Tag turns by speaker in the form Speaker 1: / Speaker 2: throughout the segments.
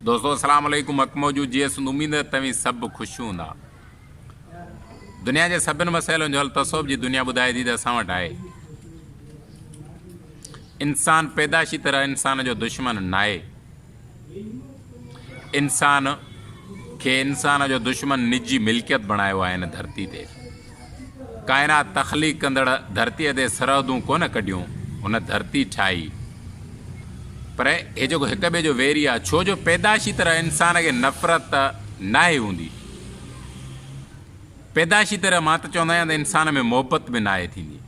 Speaker 1: دوستو السلام عليڪم حق موجود جيئي سنڌ اميد آهي توهين سڀ خوش هوندا دنيا جي سڀن مسئلن جو حل تصوف جي دنيا ٻڌائي ٿي ته اسان وٽ آهي انسان پيدائشي طرح انسان جو دشمن ناهي انسان کي انسان جو دشمن نجي ملڪيت بڻايو آهي هن ڌرتي تي ڪائنات تخليق ڪندڙ ڌرتيء تي سرحدون ڪونه ڪڍيون، هن ڌرتي ٺاهي. پر هي جيڪو هڪ ٻئي جو ويري آهي، ڇو جو پيدائشي طرح انسان کي نفرت ته ناهي هوندي. پيدائشي طرح مان ته چوندا آهيان ته انسان ۾ محبت به ناهي ٿيندي.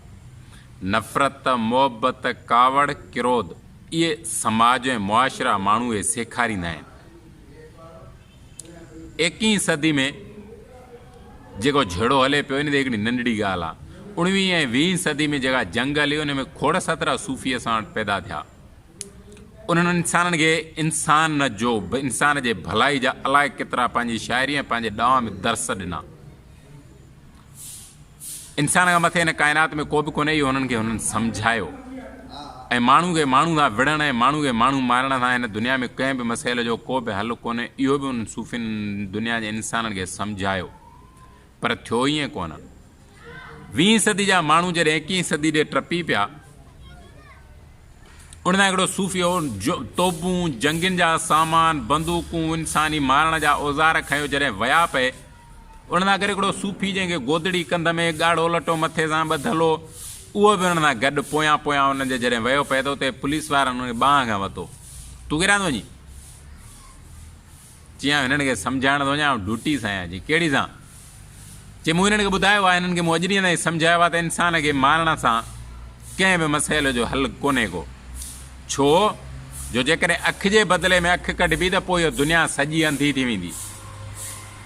Speaker 1: نفرت، محبت، ڪاوڙ، ڪروڌ اهي سماج ۽ معاشرا ماڻهوء کي سيکاريندا آهن. ايڪيهين صدي ۾ جيڪو جهيڙو هلي پيو، ان تي هڪڙي ننڍڙي ڳالهه آ. اڻويهين ۽ ويهين صدي ۾ جيڪا جنگ هلي، ان ۾ کوڙ سترا صوفي اسان وٽ پيدا ٿيا. انهن انسانن کي انسان جو، انسان جي ڀلائي جا الائي ڪيترا پنهنجي شاعري ۽ پنهنجي ڏانء ۾ درس ڏنا. انسان کان مٿي هن ڪائنات ۾ ڪو به ڪونهي اهو هنن کي هنن سمجهايو ۽ ماڻهو کي ماڻهو سان وڙهڻ ۽ ماڻهو کي ماڻهو مارڻ سان هن دنيا ۾ ڪنهن به مسئلي جو ڪو به حل ڪونهي اهو به انهن صوفين دنيا جي انسانن کي سمجهايو پر ٿيو ائين ڪونه ويهين صدي جا ماڻهو جڏهن ايڪيهين صدي ڏي ٽپي پيا ان ۾ هڪڙو صوفيو توبون جنگين جا سامان بندوقون انساني مارڻ جا اوزار کنيو جڏهن ويا پئي ان سان گڏ هڪڙو صوفي جنهن کي گودڙي ڪنڌ ۾ ڳاڙهو لٽو مٿي سان ٻڌل هو، اهو به ان سان گڏ پويان پويان انهن جي جڏهن ويو پئي ته اتي پوليس وارن ان کي ٻانهن کان ورتو. تون ڪيڏانهن ٿو وڃين؟ چيائين آئون هنن کي سمجهائڻ ٿو وڃان، آئون ڊوٽي سان آهيان. چيائين ڪهڙي سان؟ چيائين مون هنن کي ٻڌايو آهي، هنن کي مون اڄ ڏينهن تائين سمجهايو آهي ته انسان کي مارڻ سان ڪنهن به مسئلي جو حل ڪونهي ڪو. ڇو جو جيڪڏهن اک جي بدلي ۾ اک ڪڍبي ته پوء اهو دنيا سڄي انڌي ٿي ويندي.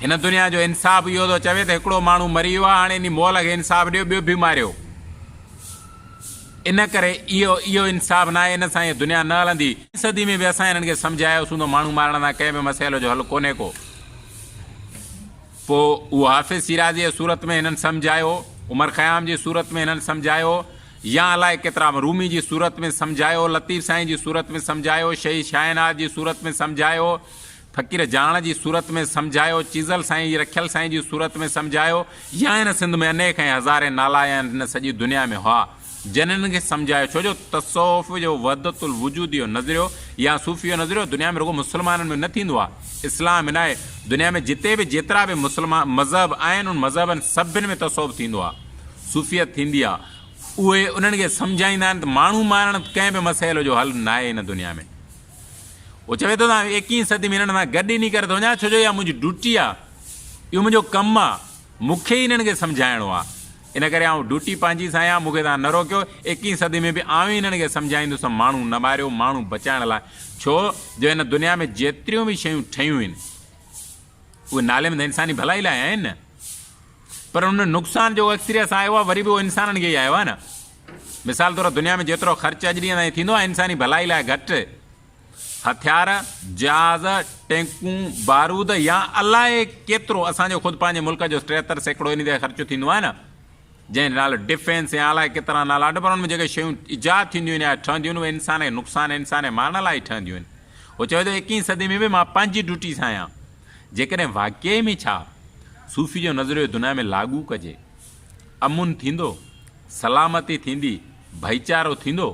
Speaker 1: هن دنيا جو انصاف اهو ٿو چوي ته هڪڙو ماڻهو مري ويو آهي هاڻي انهي مئل کي انصاف ڏيو ٻيو به ماريو. ان ڪري اهو اهو انصاف ناهي ان سان اهي دنيا نه هلندي. صدي ۾ به اسان هنن کي سمجهايو سون ته ماڻهو مارڻ سان ڪنهن به مسئلي جو حل ڪونهي ڪو. پوء اهو حافظ شيرازيء جي صورت ۾ هنن سمجهايو، عمر خيام جي صورت ۾ هنن سمجهايو، يا الائي ڪيترا به رومي جي صورت ۾ سمجهايو، لطيف سائين جي صورت ۾ سمجهايو، شهيد شاهنواز جي صورت ۾ سمجهايو، فقير جاڻ جي صورت ۾ سمجهايو، چيزل سائين جي رکيل سائين جي صورت ۾ سمجهايو، يا هن سنڌ ۾ انيڪ ۽ هزارين نالا هيا ۽ هن سڄي دنيا ۾ هئا. جن هنن کي سمجهايو، ڇو جو تصوف جو وحدت الوجود جو نظريو يا صوفي جو نظريو دنيا ۾ رڳو مسلمانن ۾ نه ٿيندو آهي، اسلام ۾ ناهي، دنيا ۾ جتي به جيترا به مسلمان مذهب آهن انهن مذهبن سڀن ۾ تصوف ٿيندو آهي، صوفيت ٿيندي آهي، اهي انهن کي سمجهائيندا آهن ته ماڻهو مارڻ ڪنهن به مسئلي جو حل ناهي هن دنيا ۾، هو چوي ٿو ته آئون ايڪيهين صدي ۾ هنن سان گڏ انهي ڪري ٿو وڃان ڇو جو اها منهنجي ڊوٽي آهي، اهو منهنجو ڪم آهي، مون کي ئي هنن کي سمجهائڻو آهي. ان ڪري آئون ڊوٽي پنهنجي سان آهيان، مون کي توهان نه روڪيو، ايڪيهين صدي ۾ به آئون ئي هنن کي سمجهائيندس ته ماڻهو نه ماريو، ماڻهو بچائڻ لاء، ڇو جو هن دنيا ۾ جيتريون به شيون ٺهيون آهن، اهي نالي ۾ ته انساني ڀلائي لاء آهن نه، پر ان نقصان جيڪو اڪثريت سان آيو آهي، وري به اهو انسانن کي ئي آيو آهي نه، مثال طور دنيا ۾ جيترو خرچ اڄ ڏينهن تائين ٿيندو آهي، انساني ڀلائي لاء گهٽ. هٿيار، جهاز، ٽينڪون، بارود يا الائي ڪيترو اسان جو خود پنهنجي ملڪ جو ٽيهتر سيڪڙو انهي تي خرچ ٿيندو آهي نه جنهن جو نالو ڊفينس يا الائي ڪيترا نالا اڏ پر ان ۾ جيڪي شيون ايجاد ٿينديون آهن يا ٺهنديون آهن اهي انسان کي نقصان ۽ انسان جي مان لاء ئي ٺهنديون آهن هو چوي ٿو ايڪيهين صدي ۾ به مان پنهنجي ڊيوٽي سان آهيان جيڪڏهن واقعي ۾ ڇا صوفي جو نظريو دنيا ۾ لاڳو ڪجي امن ٿيندو سلامتي ٿيندي ڀائيچارو ٿيندو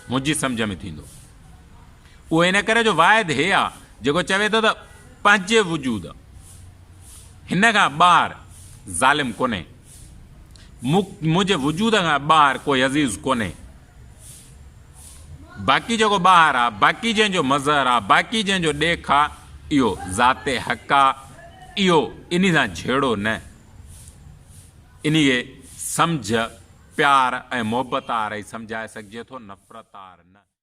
Speaker 1: منهنجي سمجهه ۾ ٿيندو. اهو ان ڪري جو واحد هي آ جيڪو چوي ٿو ته پنهنجي وجود هن کان ٻاهر ظالم ڪونهي. مون منهنجي وجود کان ٻاهر ڪو عزيز ڪونهي. باقي جيڪو ٻاهر آ، باقي جنهن جو مظهر آ، باقي جنهن جو ڏيک آ، اهو ذات حق آ. اهو انهي سان جهيڙو نه. انهيء سمجهه پيار ۽ محبت آر ئي سمجهائي سگهجي ٿو، نفرت آر نه.